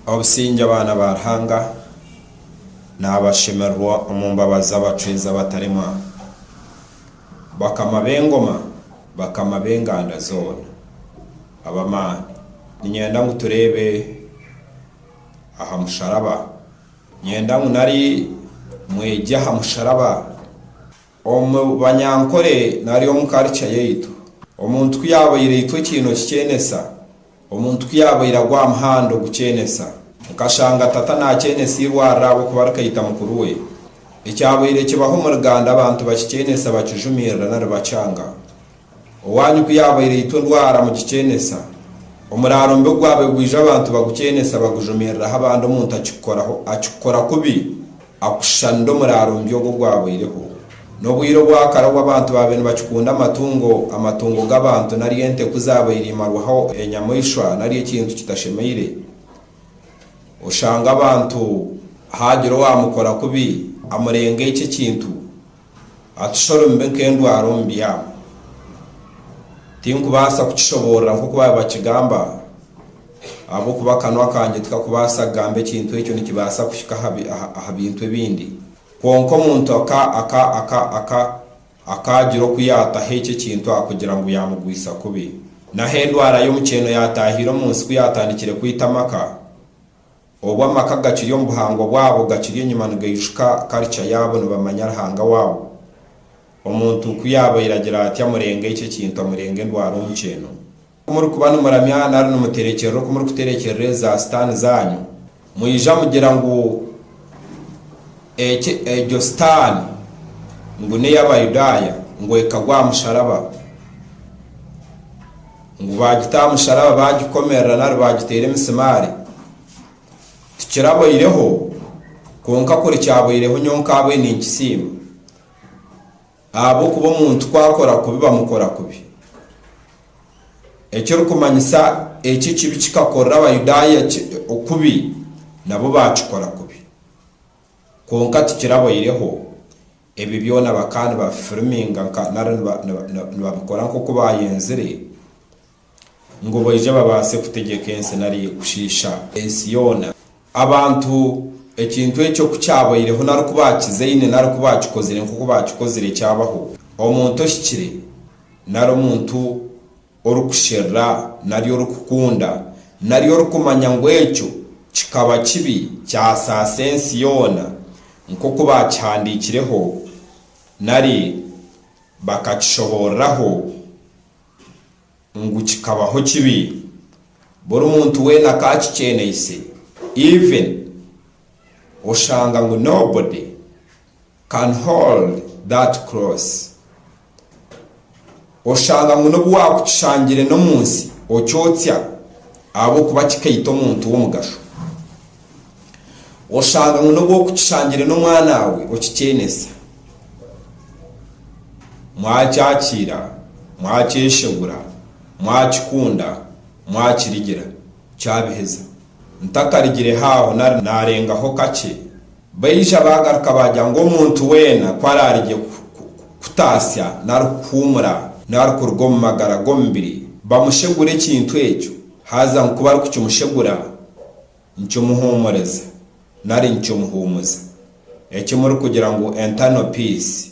Obusingye abaana ba Ruhanga naabashemererwa omu mbabazi abacwezi abataremwa, bakama b'engoma, bakama b'enganda zoona ab'amaani. Niinyenda ngu tureebe aha musharaba. Niinyenda ngu nari mwegye aha musharaba. Omu banyankore nari omu karica yaitu, omuntu ku yaabaire aitwa ekiino kikyenesa. Omuntu ku yaabaire agwa aha muhanda ogukyenesa, nkashanga tata naakyenesa eirwariro ahabw'okuba arikaita mukuru we. Ekyabaire kibaho omuri Ganda abantu bakikyenesa bakijumirira nari bacanga. Owaanyu ku yaabaire aitwa endwara mugikyenesa, omuraaro mubi ogwaabaire gwaijo abantu bagukyenesa bagujumiriraho abandi omuntu akikukoraho akikukora kubi. Akushanire omuraaro mubi ogu ogwabaireho. N'obwire obwakare obu abantu baabaire nibakikunda amatungo, amatungo g'abantu nari ente ku zaabaire imarwaho enyamaishwa nari ekintu kitashemeire, oshanga abantu haagira owaamukora kubi, amurenga ekyo ekintu, Atushorimbe nk'endwara omu byabo. Tinkubaasa kukishoboorora nk'oku baabibakigamba, ahabw'okuba akanwa kangye tikakubaasa kugamba ekintu ekyo nikibaasa kuhika aha bintu ebindi. Kwonka omuntu akaagira oku yaataho ekyo ekintu aha kugira ngu yaamugwisa kubi. N'ahu endwara y'omukyeeno yaataahiire omu nsi ku yaatandikire kwita amaka, Obu amaka gakiri omu buhangwa bwabo gakiri enyima nigaijuka karica yaabo nibamanya Ruhanga waabo. Omuntu ku yaabaire agira ati amurenge eki ekintu amurenge endwara omu kyeeno. Ku murikuba nimuramya nari nimuterekyerera oku murikuterekyerera ezi za sitaani zaanyu, mwija mugira ngu eki egyo sitaani ngu n'ey'Abayudaaya ngu ekagwa aha musharaba. Ngu baagita aha musharaba baagikomerera nari baagiteera emisimaari, tikiraboireho, kwonka kuri kyaboireho nyowe nkaabwe ninkisiima. Ahabw'okuba omuntu ku akora kubi bamukora kubi. Ekirikumanyisa eki ekibi kikakorera Abayudaaya kubi, nabo baakikora kubi. Kwonka tikiraboireho. Ebi byona bakaba nibabifiriminga nka nari nibabikora nk'oku baayenzire ngu baije babaase kutegyeka ensi nari kushiisha ensi yoona. Abantu ekintu ekyo ku kyabaireho nari ku baakizaine nari ku baakikozire nk'oku baakikozire kyabaho, omuntu ohikire nari omuntu orikusherura nari orikukunda nari orikumanya ngu ekyo kikaba kibi kyasaasa ensi yoona nk'oku baakihandiikireho nari bakakishobooreraho ngu kikabaho kibi. Buri muntu weena akaakikyeneise, even oshanga ngu nobody. Can hold that cross Oshanga ngu n'obu waakukishangire n'omu nsi okyotsya ahabw'okuba kikaita omuntu w'omugasho. Oshanga ngu n'obu okukishangire n'omwanaawe okikyenesa. Mwakyakiira, mwakyeshegura, mwakikunda, mwakirigira, kyabiheza. Ntatarigire haaho nari naarengaho kakye, baija baagaruka baagira ngu omuntu weena ku araarigye kutaasya nari kuhuumura nari kuruga omu magara g'omubiri, bamushegure ekintu ekyo, haza ngu ku barikukimushegura, nikimuhuumuriza nari nikimuhuumuza. Eki murikugira ngu Internal Peace.